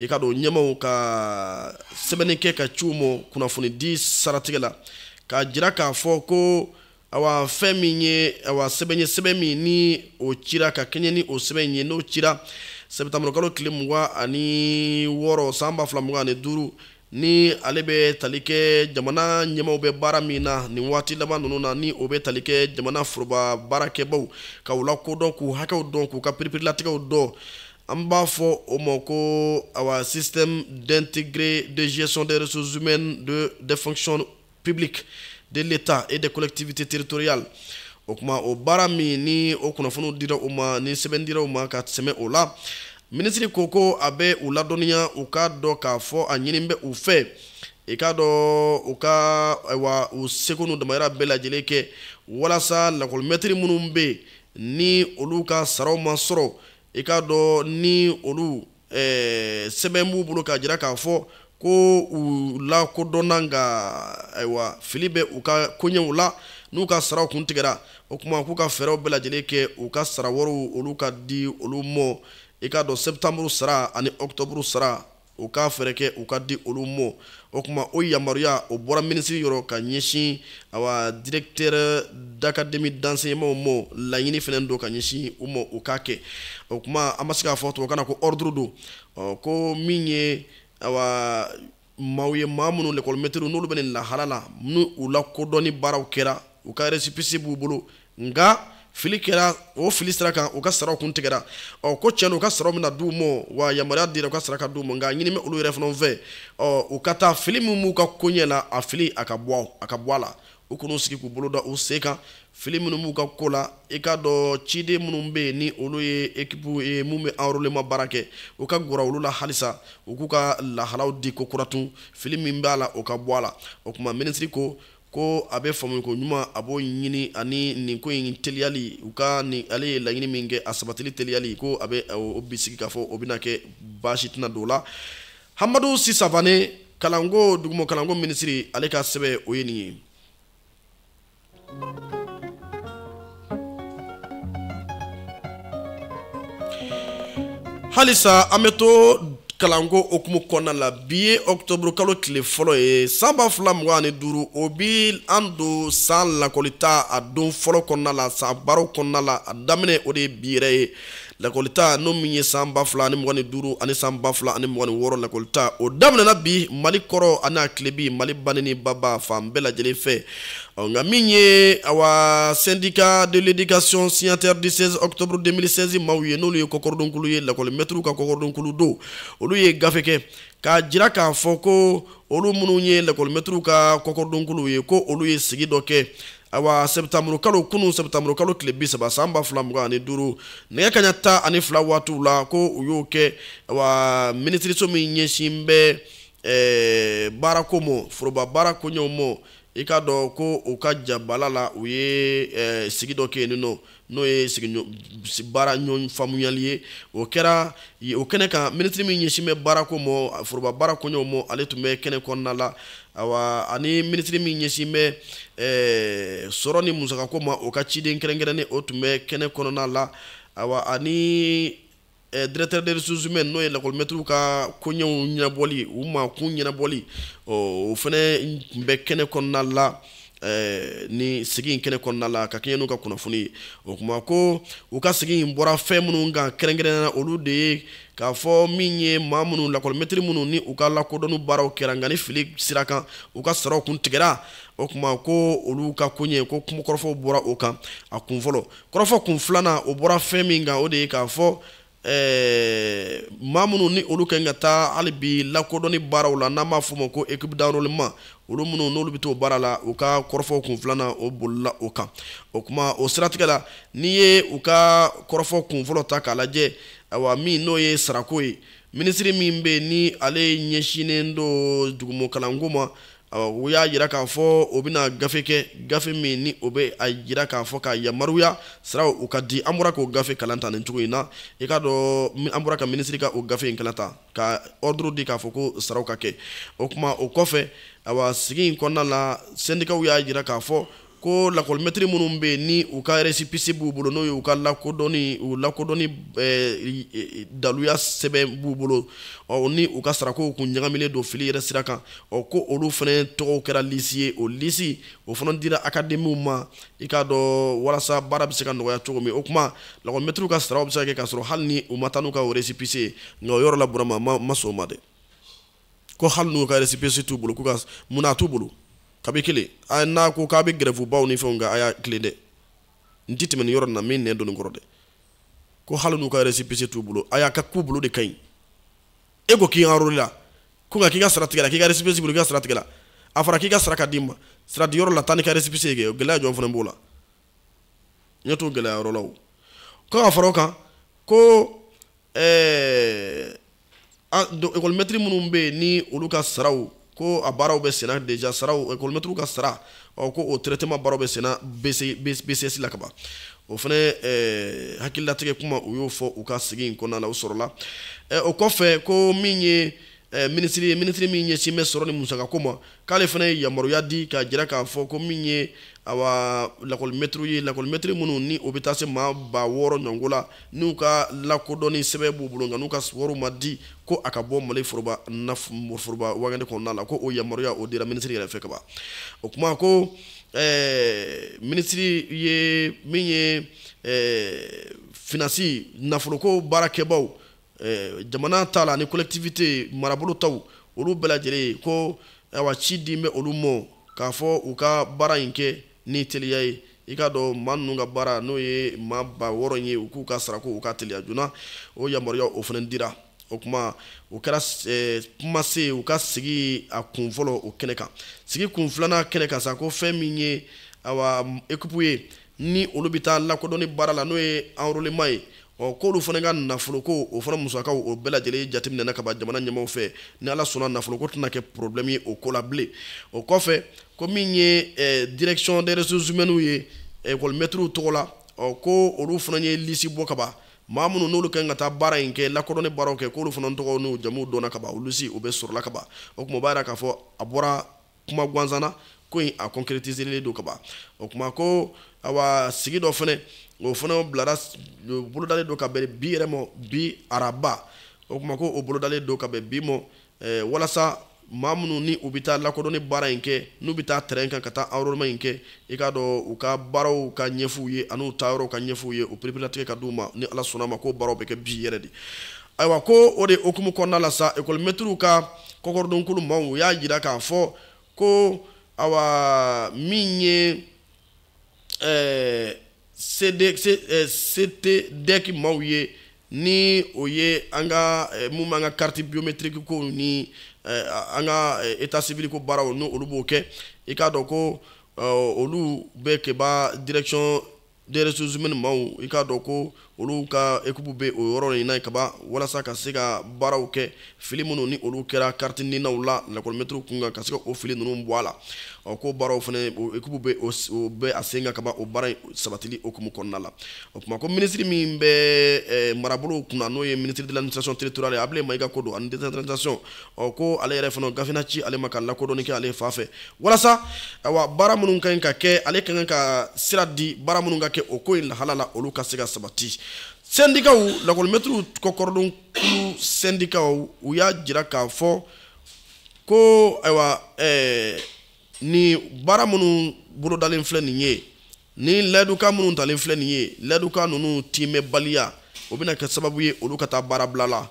i k'a dɔn ɲɛmaw ka sɛbɛnni kɛ k'a ci u mɔ kunnafonidi siratigɛ la k'a jira k'a fɔ ko awa fɛn min ye awa sɛbɛn ye sɛbɛn min ni o cira ka kɛɲɛ ni o sɛbɛn ye n'o cira sɛpitanburukalo tile mugan ani wɔɔrɔ san ba fila mugan ani duuru ni ale bɛ tali kɛ jamana ɲɛmaaw bɛ baara min na nin waati laban ninnu na ni o bɛ tali kɛ jamana foroba baarakɛbaw ka u lakodɔn k'u hakɛw dɔn k'u ka piripirilatigɛw dɔn an b'a fɔ o ma ko awa système d'intégré de gestion des ressources humaines de des fonctions publiques de l'état et des collectivités territoriales o tuma o baara min ni o kunnafoniw dira u ma ni sɛbɛn dira u ma ka sɛmɛ o la minisiri ko ko a bɛ u ladɔnniya u k'a dɔn k'a fɔ a ɲini bɛ u fɛ i k'a dɔn u ka ayiwa u seko n'u damayira bɛɛ lajɛlen kɛ walasa lakɔlimɛtiri minnu bɛ yen ni olu ka saraw ma sɔrɔ i k'a dɔn ni olu eh, sɛbɛn b'u bolo k'a jira k'a fɔ ko u lakodɔnna nka ayiwa fili bɛ u ka koɲɛw la n'u ka saraw kun tigɛra o tuma k'u ka fɛɛrɛw bɛɛ lajɛlen kɛ u ka sara wariw olu ka di olu mɔ i k'a dɔn sɛpitanburu sara ani ɔkutɔburu sara u ka fɛɛrɛ kɛ u ka di olu mɔ o tuma o yamaruya o bɔra minisiri yɔrɔ ka ɲɛsin awa directeur d'académie d'enseignement mɔ laɲini fɛnɛ don ka ɲɛsin u mɔ u k'a kɛ o tuma an ma se k'a fɔ tubabukan na ko ordre don ko min ye awa maaw ye maa minnu lekɔlimɛtiriw n'olu bɛ nin lahala la ni u lakodɔnni baaraw kɛra u ka resipisi b'u bolo nka fili kɛra o fili sira kan u ka saraw kun tigɛra ɔ ko cɛn u ka saraw bɛna d'u ma wa yamaruya dira u ka sara ka d'u ma nka a ɲini bɛ olu yɛrɛ fana fɛ ɔ u ka taa fili min b'u ka koɲɛ la a fili a ka bɔ a ka bɔ a la u kana sigi k'u bolo da u sen kan fili minnu b'u ka ko la i k'a dɔn ciden minnu bɛ yen ni olu ye ekipu ye min bɛ enrôlement baara kɛ u ka gɛrɛ olu la halisa u k'u ka lahalaw di kokura tun fili min b'a la o ka bɔ a la o tuma minisiri ko ko a bɛ faamu ko ɲuman a b'o ɲini ani nin ko in teliyali u ka ni ale ye laɲini min kɛ a sabatili teliyali ko a bɛ o bisigi k'a fɔ o bɛna kɛ baasi tɛna don o la amadu si savane kalanko duguma kalanko minisiri ale ka sɛbɛn o ye nin ye halisa an bɛ to kalanko hukumu kɔnɔna la bi ye ɔkutɔburu kalo tile fɔlɔ ye san ba fila mugan ani duuru o bɛ an don san lakɔlita a don fɔlɔ kɔnɔna la san baaraw kɔnɔna la a daminɛ o de ye bi yɛrɛ ye lakɔlita n'o min ye san ba fila ani mugan ni duuru ani san ba fila ani mugan ni wɔɔrɔ lakɔlita o daminɛna bi mali kɔrɔn ani a tilebin mali bani ni baba fan bɛɛ lajɛlen fɛ ɔ nka min ye awa syndicat de l'éducation signataire du 16 octobre 2016 maaw ye n'olu ye kɔkɔrɔdonkulu ye lakɔlimɛtiriw ka kɔkɔrɔdonkulu don olu ye gafe kɛ k'a jira k'a fɔ ko olu minnu ye lakɔlimɛtiriw ka kɔkɔrɔdonkulu ye ko olu ye sigi dɔ kɛ awa sɛtanburu kalo kunun sɛtanburu kalo tile bi saba san ba fila mugan ani duuru nɛgɛ kaɲa tan ani fila waatiw la ko u y'o kɛ awa minisiriso min ɲɛsin bɛ ɛɛ eh, baarako mɔ foroba baara koɲɛw mɔ i k'a dɔn ko u ka jabala la u ye eh, sigi dɔ kɛ yen nɔ n'o ye baara ɲɔgɔn faamuyali ye o kɛra o kɛnɛ kan minisiri min ɲɛsin bɛ baarako mɔ foroba baara koɲɛw mɔ ale tun bɛ kɛnɛ kɔnɔna la awa ani minisiri min ɲɛsin bɛ eh, sɔrɔ ni musakako ma o ka ciden kɛrɛnkɛrɛnnen o tun bɛ kɛnɛ kɔnɔna la awa ani Eh, directeur des ressources humaines n'o ye lakɔlimɛtiriw ka koɲɛw ɲɛnabɔli u mako ɲɛnabɔli o fana tun bɛ kɛnɛ kɔnɔna la eh, ni sigi in kɛnɛ kɔnɔna la ka kɛɲɛ n'u ka kunnafoni ye o kuma ko u ka sigi in bɔra fɛn minnu kan kɛrɛnkɛrɛnnenya la olu de ye k'a fɔ min ye maa minnu lakɔlimɛtiri minnu ni u ka lakodɔnni baaraw kɛra nka ni fili sira kan u ka saraw kun tigɛra o kuma ko olu ka koɲɛ ko kuma kɔrɔfɔw bɔra o kan a kun fɔlɔ kɔrɔfɔ kun filanan o bɔra fɛn min kan o de ye k'a fɔ ɛɛ maa minnu ni olu kan ka taa hali bi lakodɔnni baaraw la n'an b'a fɔ o ma ko équipe d'enrôlement olu minnu n'olu bɛ t'o baara la u ka kɔrɔfɔ kun filanan o bolila o kan o kuma o siratigɛ la n'i ye u ka kɔrɔfɔ kun fɔlɔ ta k'a lajɛ awa min n'o ye sarako ye minisiri min bɛ yen ni ale ɲɛsinnen don dugumɔkalanko ma u y'a jira k'a fɔ o bɛna gafe kɛ gafe min ni o bɛ a jira k'a fɔ ka yamaruya saraw ka di an bɔra k'o gafe kalan ta nin cogo in na i k'a dɔn an bɔra ka minisiri ka o gafe in kalan ta ka ordre di k'a fɔ ko saraw ka kɛ o kuma o kɔfɛ awa sigi in kɔnɔna la sɛndikaw y'a jira k'a fɔ ko lakɔlimɛtiri minnu bɛ yen ni u ka resipisi b'u bolo n'o ye u ka lakodɔnni u lakodɔnni eh, daluya sɛbɛn b'u bolo ɔ ni u ka sarakow kun ɲagamilen don fili yɛrɛ sira kan ɔ ko olu fana tɔgɔw kɛra lisi ye o lisi o fana dira akademiw ma i k'a dɔn walasa baara bɛ se ka nɔgɔya cogo min o kuma lakɔlimɛtiriw ka saraw bɛ se ka kɛ k'a sɔrɔ hali ni u ma taa n'u ka resipisi ye nka o yɔrɔ la burama ma sɔn o ma dɛ ko hali n'u ka resipesi t'u bolo mun na a t'u bolo kabi kelen a n'a ko k'a bɛ gɛrɛfubaw ni fɛnw kɛ a y'a tilen dɛ n ti tɛmɛ nin yɔrɔ nin na min nɛn don n kɔrɔ dɛ ko hali n'u ka resipesi t'u bolo a y'a ka k'u bolo de ka ɲi e ko k'i anrolela ko nka k'i ka sara tigɛla k'i ka resipesi bolo k'i ka sara tigɛla a fɔra k'i ka sara ka d'i ma sara di yɔrɔ la taa n'i ka resipesi ye kɛ o gɛlɛya jɔn fana b'o la n ɲɛ t'o gɛlɛya yɔrɔ la o ko ka fara o kan ko ɛɛ ekɔlimɛtiri minnu bɛ yen ni olu ka saraw ko a baaraw bɛ senna deja saraw ekɔlimɛtiriw ka sara ɔ ko o traitement baaraw bɛ senna BCS la kaban o fana eh, hakililatigɛ kuma u y'o fɔ u ka sigi in kɔnɔna la o sɔrɔla eh, o kɔfɛ ko min ye eh, minisiri ye minisiri min ɲɛsin bɛ sɔrɔ ni musakako ma k'ale fana ye yamaruya di k'a jira k'a fɔ ko min ye awa lakɔlimɛtiriw ye lakɔlimɛtiri minnu ni o bɛ taa se maa ba wɔɔrɔ ɲɔgɔn la n'u ka lakodɔnni sɛbɛn b'u bolo nka n'u ka wariw ma di ko a ka bɔ mali foroba foroba wagande kɔnɔna la ko o yamaruya o dira minisiri yɛrɛ fɛ kaban o kuma ko ɛɛ minisiri ye min ye ɛɛ finansi nafoloko baarakɛbaaw eh, jamana ta la ni collectivité marabolo taw olu bɛɛ lajɛlen ko awa ci di bɛ olu mɔ k'a fɔ u ka baara in kɛ ni teliya ye i k'a dɔn maa ninnu ka baara n'o ye maa ba wɔɔrɔ ye u k'u ka sarako u ka teliya joona o yamaruya o fana dira o kuma o kɛra eh, kumasen u ka sigi a kun fɔlɔ o kɛnɛ kan sigi kun filanan kɛnɛ kan sa ko fɛn min ye awa ekipu ye ni olu bɛ taa lakodɔnni baara la n'o ye anrolema ye ɔ k'olu fana ka nafoloko o fana musakaw o bɛɛ lajɛlen jateminɛna ka ban jamana ɲɛmaaw fɛ ni ala sɔnna nafoloko tɛna kɛ problɛmu ye o ko la bilen o kɔfɛ ko min ye eh, direction des ressources humaines ye ekɔlimɛtiriw eh, tɔgɔ la ɔ ko olu fana ye lisi bɔ ka ban maa minnu n'olu kan ka taa baara in kɛ lakodɔnni baaraw kɛ k'olu fana tɔgɔ n'u jamuw dɔnna ka ban o lisi o bɛɛ sɔrɔla ka ban o kuma o b'a jira k'a fɔ a bɔra kuma gansan na ko in a concrétiselen don kaban o kuma ko awa sigi dɔ fɛnɛ o fana bilara bolodalen don ka bɛn bi yɛrɛ mɔ bi araba o kuma ko o bolodalen don ka bɛn bi mɔ eh, walasa maa minnu ni u bɛ taa lakodɔnni baara in kɛ n'u bɛ taa terɛn kan ka taa enrôlement in kɛ i k'a dɔn u ka baaraw ka ɲɛf'u ye an'u taayɔrɔw ka ɲɛf'u ye o pereperelatigɛ ka d'u ma ni ala sɔnn'a ma k'o baaraw bɛ kɛ bi yɛrɛ de ayiwa ko o de hukumu kɔnɔna la sa ekɔlimɛtiriw ka kɔkɔrɔdonkulu maaw u y'a jira k'a fɔ ko awa min ye ɛɛ sede se ɛɛ CTDEC maaw ye ni o ye an ka mun b'an ka kariti biyometiriki ko ni an ka eta sivili ko baaraw n'olu b'o kɛ i k'a dɔn ko olu bɛ keba direksiyɔn des ressources humaines maaw i k'a dɔn ko olu ka équipe bɛ o yɔrɔ in na kaban walasa ka se ka baaraw kɛ fili minnu ni olu kɛra kariti ninaw la lakɔlimɛtiriw kun kan ka se ka o fili ninnu bɔ a la ɔ ko baaraw fana équipe bɛ o bɛ a sen kan kaban o baara in sabatili hukumu kɔnɔna la o kuma ko minisiri min bɛ marabolow kunna n'o ye ministre de l'administration territoriale abulayi mayiga ko don ani décentralisation ɔ ko ale yɛrɛ fana gafe na ci ale ma ka lakodɔnni kɛ ale fan fɛ walasa awa baara minnu ka ɲi ka kɛ ale ka kan ka sira di baara minnu ka kɛ o ko in lahala la olu ka se ka sabati sɛndikaw lakɔlimɛtiriw kɔkɔrɔdon kulu sɛndikaw u y'a jira k'a fɔ ko ayiwa ɛɛ ni baara minnu bolodalen filɛ nin ye ni layidukan minnu talen filɛ nin ye layidukan ninnu tiimɛbaliya o bɛna kɛ sababu ye olu ka taa baarabila la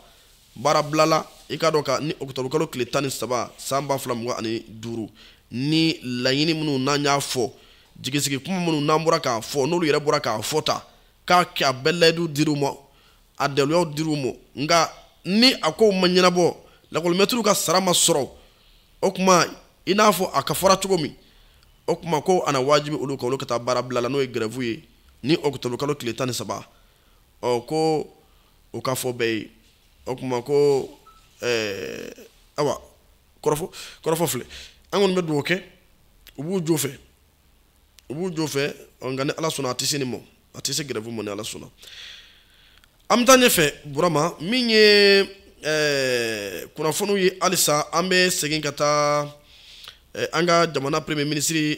baarabila la i k'a dɔn ka ni ɔkutɔbukalo tile tan ni saba san ba fila mugan ani duuru ni laɲini minnu n'an y'a fɔ jigisigi kuma minnu n'an bɔra k'a fɔ n'olu yɛrɛ bɔra k'a fɔ ta k'a kɛ a bɛɛ layidu dir'u ma a daluyaw dir'u ma nka ni a kow ma ɲɛnabɔ lakɔlimɛtiriw ka sara ma sɔrɔ o kuma i n'a fɔ a ka fɔra cogo min o kuma ko a na wajibi olu kan olu ka taa baarabila la n'o ye gɛrɛfu ye ni ɔkutɔbukalo tile tan ni saba ɔ ko o ka fɔ bɛɛ ye o kuma ko eh, awa kɔrɔfɔ kɔrɔfɔ filɛ an kɔni bɛ dugawu kɛ u b'u jo fɛ u b'u jo fɛ nka ni ala sɔnna a tɛ se nin ma a tɛ se gɛrɛfu ma ni ala sɔnna an bɛ taa ɲɛfɛ burama min ye eh, kunnafoniw ye halisa an bɛ segin ka taa eh, an ka jamana premier ministre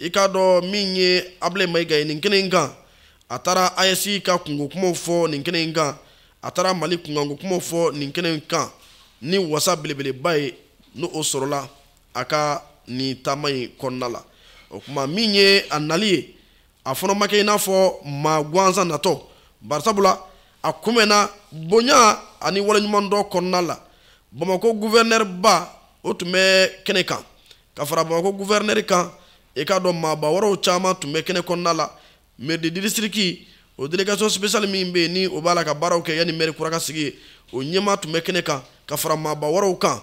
i k'a dɔn min ye abulayi mayiga ye nin kɛnɛ in kan a taara AES ka kunko kumaw fɔ nin kɛnɛ in kan a taara mali kunkanko kumaw fɔ nin kɛnɛ in kan ni wasa belebeleba ye ni o sɔrɔla a ka nin taama in kɔnɔna la o kuma min ye a nali ye a fana ma kɛ i n'a fɔ maa gansan natɔ barisabula a kunbɛnna bonya ani waleɲumandɔn kɔnɔna la bamakɔ guvɛrɛnɛriba o tun bɛ kɛnɛ kan ka fara bamakɔ guvɛrinɛri kan i k'a dɔn maaba wɛrɛw caman tun bɛ kɛnɛ kɔnɔna la mairie du district o délégation spéciale min bɛ yen ni o b'a la ka baaraw kɛ yanni mɛri kura ka sigi yen o ɲɛmaa tun bɛ kɛnɛ kan ka fara maaba wɛrɛw kan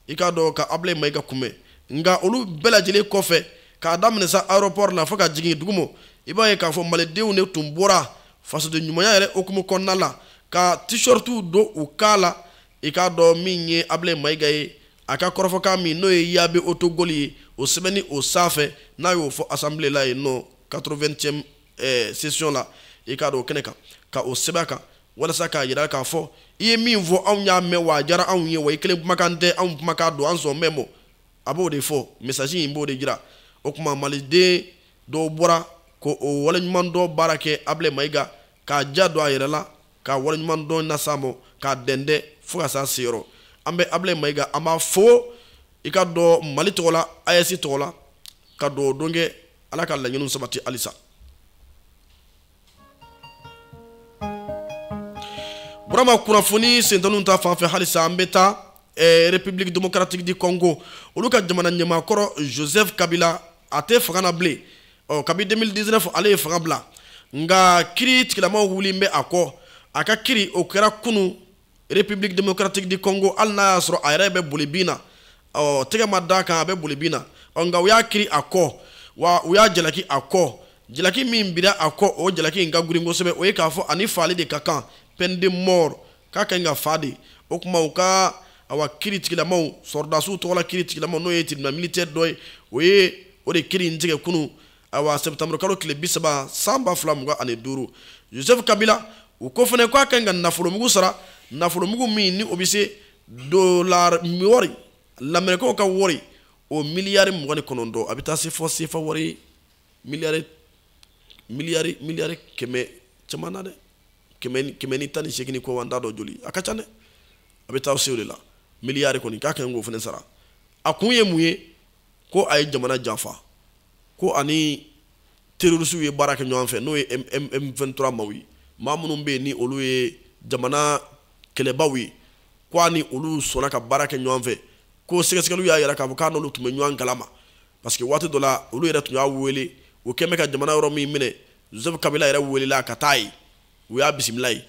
i k'a dɔn ka abulayi mayiga kunbɛn nka olu bɛɛ lajɛlen kɔfɛ k'a daminɛ sa aéroport la fo ka jigin dugumo i b'a ye k'a fɔ malidenw de tun bɔra fasoden ɲumanya yɛrɛ hukumu kɔnɔna la ka t-shirtiw don u kan la i k'a dɔn min ye abulayi mayiga ye a ka kɔrɔfɔkan min n'o ye yabe otogoli ye o sɛbɛnni o sanfɛ n'a y'o fɔ assemblée la yen nɔ 80e session la i k'a dɔn o kɛnɛ kan ka o sɛbɛn kan walasa k'a yira k'a fɔ i ye min fɔ anw y'a mɛn wa a diyara anw ye wa i kelen kumakan tɛ anw kumakan don an sɔnnen b'a ma a b'o de fɔ message in b'o de jira o tuma maliden dɔw bɔra ko o waleɲumandɔn baara kɛ abulayi mayiga k'a ja don a yɛrɛ la k'a waleɲumandɔn nas'a ma k'a dɛndɛn fo ka s'a seyɔrɔ an bɛ abulayi mayiga an b'a fo i k'a dɔn mali tɔgɔ la aes tɔgɔ la ka dugawu don kɛ ala ka laɲiniw sabati halisa burama kunnafoni sentaniw ta fan fɛ halisa an bɛ taa eh, république démocratique du congo olu ka jamana ɲɛmaakɔrɔ joseph kabila a tɛ fanga na bilen ɔ kabi 2019 ale ye fanga bila nka kiri tigilamaw wulilen bɛ a kɔ a ka kiri o kɛra kunu république démocratique du congo hali n'a y'a sɔrɔ a yɛrɛ bɛ boli bin na ɔ tɛgɛ ma d'a kan a bɛ boli bin na ɔ nka u y'a kiri a kɔ wa u y'a jalaki a kɔ jalaki min bira a kɔ o jalaki in ka girin kosɛbɛ o ye k'a fɔ a ni faali de ka kan peine de mort k'a ka ɲi ka fa de o tuma u ka awa kiri tigilamaw sɔrɔdasiw tɔgɔ la kiri tigilamaw n'o ye tribunal militaire dɔ ye o ye o de kiri in tigɛ kunu awa septembre kalo tile bi saba san ba fila mugan ani duuru joseph kabila u ko fana k'a ka ɲi ka nafolomugu sara nafolomugu min ni o bɛ se dolari wɔri lamerikɛnw ka wɔri o miliyari mugan ni kɔnɔntɔn a bɛ taa se fɔ sefa wɔri miliyari kɛmɛ caman na dɛ kɛmɛ ni tan ni seegin kɔ an t'a dɔn joli a ka ca dɛ a bɛ taa se o de la miliyari kɔni k'a ka ɲi k'o fana sara a kun ye mun ye ko a ye jamana janfa ko a ni terorisiw ye baara kɛ ɲɔgɔn fɛ n'o ye m23 maw ye maa minnu bɛ yen ni olu ye jamana kɛlɛbaw ye ko a ni olu sɔnna ka baara kɛ ɲɔgɔn fɛ ko sɛgɛsɛgɛliw y'a yira k'a fɔ k'a n'olu tun bɛ ɲɔgɔn kalama parce que waati dɔ la olu yɛrɛ tun y'a wele u tun bɛ ka jamana yɔrɔ min minɛ joseph kabila yɛrɛ welela ka taa yen u y'a bisimila yen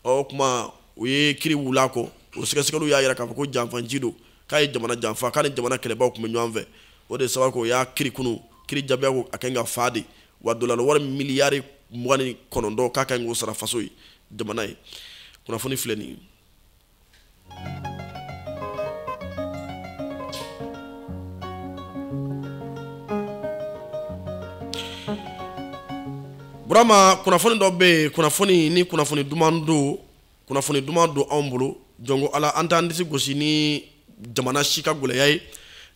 ɔ o tuma u ye kiri wul'a kɔ o sɛgɛsɛgɛliw y'a yira k'a fɔ ko janfanci don k'a ye jamana janfa k'a ni jamana kɛlɛbaw tun bɛ ɲɔgɔn fɛ o de sababu u y'a kiri kunu kiri jaabi ye ko a ka ɲi ka fa de wa dolari wari miliyari mugan ni kɔnɔntɔn k'a ka ɲi k'o sara faso ye jamana ye kunnafoni filɛ nin ye Burama kunnafoni dɔ bɛ yen kunnafoni nin kunnafoni duman don kunnafoni duman don anw bolo jɔn ko ala an t'an disi gosi ni jamana si ka gɛlɛya ye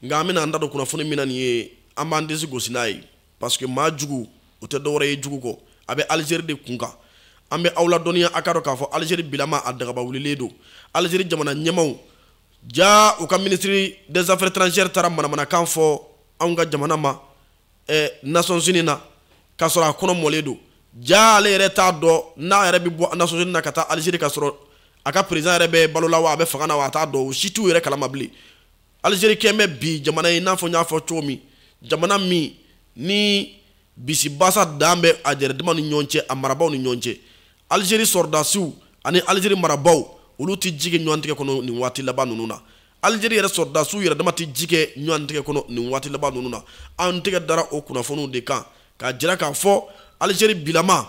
nka an bɛna an da don kunnafoni min na nin ye an b'an disi gosi n'a ye parce que maa jugu o tɛ dɔwɛrɛ ye jugu kɔ a bɛ alizeri de kun kan an bɛ aw ladɔnniya a ka dɔn k'a fɔ alizeri bilama a dagaba wulilen don alizeri jamana ɲɛmaaw ja u ka ministre des affaires étrangères taara manamanakan fɔ anw ka jamana ma eh, nations unies na k'a sɔrɔ a kɔnɔ mɔlen don ja ale yɛrɛ t'a dɔn n'a yɛrɛ bɛ bɔ nations unies na ka taa alizeri k'a sɔrɔ a ka président yɛrɛ bɛ balo la wa a bɛ fanga na wa a t'a dɔn o si t'u yɛrɛ kalama bilen alizeri kɛlen bɛ bi jamana ye i n'a fɔ n y'a fɔ cogo min jamana min ni bisibasa dan bɛ a yɛrɛdama ni ɲɔgɔn cɛ a marabaaw ni ɲɔgɔn cɛ alizeri sɔrɔdasiw ani alizeri marabaaw olu tɛ ji kɛ ɲɔgɔn tigɛ kɔnɔ nin waati laban ninnu na alizeri yɛrɛ sɔrɔdasiw yɛrɛ dama tɛ ji kɛ ɲɔgɔn tigɛ kɔnɔ nin waati laban ninnu na an tɛgɛ dara o kunnafoniw de kan k'a jira k'a fɔ alizeri bilama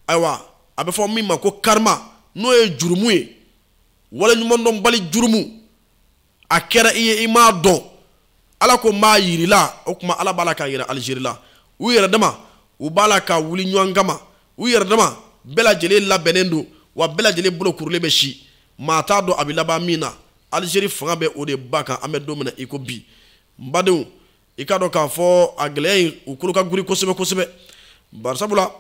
ayiwa a bɛ fɔ min ma ko karma n'o ye jurumu ye waleɲumandɔnbali jurumu a kɛra i ye i m'a dɔn ala ko n b'a yira i la o tuma ala b'a la k'a yira alizeri la u yɛrɛ dama u b'a la ka wuli ɲɔgɔn kama u yɛrɛ dama bɛɛ lajɛlen labɛnnen don wa bɛɛ lajɛlen bolo kurulen bɛ si maa t'a dɔn a bɛ laban min na alizeri fanga bɛ o de ba kan an bɛ don min na i ko bi n badenw i k'a dɔn k'a fɔ a gɛlɛya in u kolo ka giri kosɛbɛ kosɛbɛ bari sabula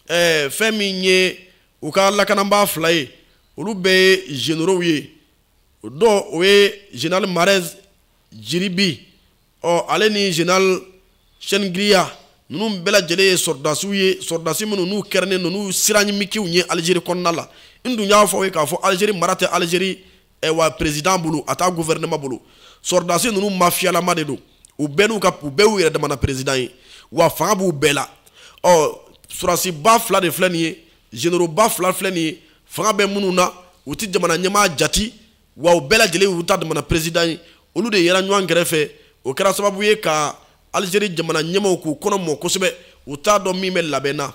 ɛɛ eh, fɛn min ye u ka lakanabaa fila ye olu bɛɛ ye généraux ye o dɔ o ye général mahrez djeribi ɔ ale ni général chengriha ninnu bɛɛ lajɛlen ye sɔrɔdasiw ye sɔrɔdasi minnu n'u kɛrɛnnen don n'u siranyimikiw ye alizeri kɔnɔna la n dun y'a fɔ aw ye k'a fɔ alizeri mara tɛ alizeri wa président bolo a t'a gouvernement bolo sɔrɔdasi ninnu mafiyalama de don u bɛɛ n'u ka u bɛɛ y'u yɛrɛ damana président ye wa fanga b'u bɛɛ la ɔ sɔrɔdasiba fila de filɛ nin ye généraux ba fila filɛ nin fanga bɛ minnu na u tɛ jamana ɲɛmaa jate wa u bɛɛ lajɛlen u ta damana président ye olu de yera ɲɔgɔn kɛrɛfɛ o kɛra sababu ye ka alizeri jamana ɲɛmaaw k'u kɔnɔ mɔ kosɛbɛ u t'a dɔn min bɛ labɛn na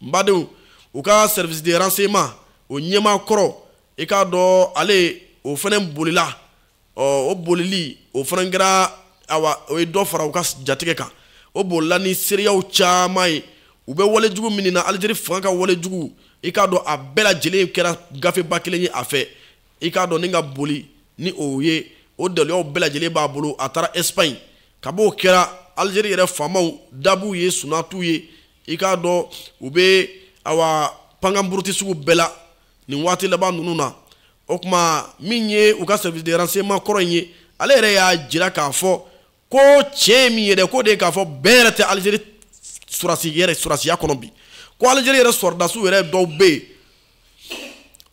n badenw u ka service de renseignement o ɲɛmaa kɔrɔ i k'a dɔn ale o fana bolila ɔ o bolili o fana kɛra awa o ye dɔ fara u ka jatigɛ kan o bolila ni seereyaw caman ye u bɛ wale jugu min na alizeri fanga ka wale jugu i k'a dɔn a bɛɛ lajɛlen kɛra gafeba kelen ye a fɛ i k'a dɔn ni ka boli ni o ye o daliluyaw bɛɛ lajɛlen b'a bolo a taara espagne kab'o kɛra alizeri yɛrɛ faamaw da b'u ye sunaa t'u ye i k'a dɔn u bɛ awa pankan buruti sugu bɛɛ la nin waati laban ninnu na o tuma min ye u ka service de renseignement kɔrɔ in ye ale yɛrɛ y'a jira k'a fɔ ko tiɲɛ ye min ye dɛ k'o de ye k'a fɔ bɛn yɛrɛ tɛ Algérie sɔrɔdasi yɛrɛ sɔrɔdasiya kɔnɔ bi ko Algérie yɛrɛ sɔrɔdasiw yɛrɛ dɔw bɛ yen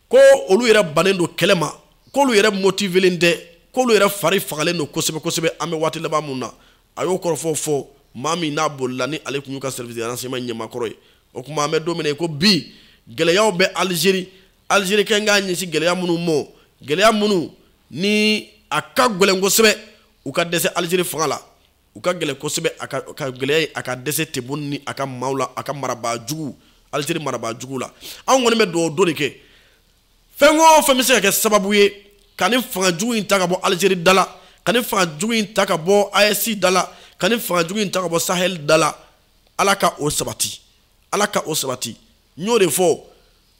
ko olu yɛrɛ bannen don kɛlɛ ma k'olu yɛrɛ motivelen tɛ k'olu yɛrɛ fari fagalen don kosɛbɛ kosɛbɛ an bɛ waati laban min na a y'o kɔrɔfɔ fɔ maa min n'a bolila ni ale tun y'u ka service de renseignement ɲɛmaakɔrɔ ye o tuma an bɛ don min na ko bi gɛlɛyaw bɛ alizeri alizeri kɛ k'a ɲɛsin gɛlɛya minnu ma gɛlɛya minnu ni a ka gɛlɛn kosɛbɛ u ka dɛsɛ alizeri fanga la u ka gɛlɛn kosɛbɛ a ka gɛlɛya ye a ka dɛsɛ Tebboune ni a ka maaw la a ka marabaa jugu alizeri marabaa jugu la anw kɔni bɛ dugawu don de kɛ fɛn o fɛn bɛ se ka kɛ sababu ye ka nin fanga jugu in ta ka bɔ alizeri da la ka nin fanga jugu in ta ka bɔ AES da la ka nin fanga jugu in ta ka bɔ sahel da la ala ka o sabati ala ka o sabati n y'o de fɔ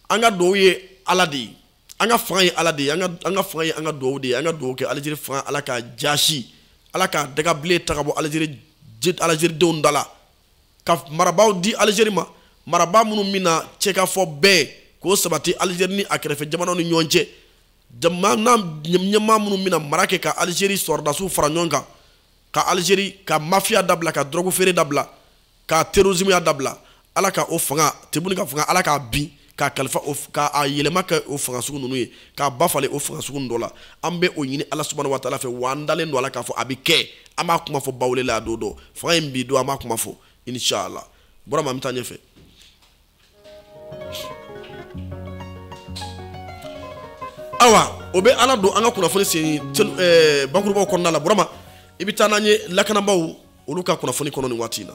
an ka duwawu ye ala de ye an ka fanga ye ala de ye an ka fanga ye an ka duwawu de ye an ka duwawu kɛ alizeri fanga ala k'a jaasi ala ka dagabile ta ka bɔ alizeri alizeridenw da la ka marabaaw di alizeri ma marabaa minnu bɛna kɛ k'a fɔ bɛn ka sabati alizeri ni a kɛrɛfɛ jamanaw ni ɲɔgɔn cɛ jamana ɲɛmaa minnu bɛna mara kɛ ka alizeri sɔrɔdasiw fara ɲɔgɔn kan ka alizeri ka mafiya dabila ka dɔrɔgu feere dabila ka terrorisme dabila ala ka o fanga Tebboune ka fanga ala k'a bin k'a kalifa ka a yɛlɛma kɛ o fanga sugu ninnu ye k'a ba falen o fanga sugu dɔ la an bɛ o ɲini ala subahana wa taala fɛ wa an dalen don a la k'a fɔ a bɛ kɛ an b'a kuma fɔ bawule la a don dɔ fanga in bin don an b'a kuma fɔ inshallah burama an bɛ taa ɲɛfɛ awa o bɛ an ladon an ka kunnafoni sen eh, bakurubaw kɔnɔna la burama i bɛ taa n'an ye lakanabaaw olu ka kunnafoni kɔnɔ nin waati in na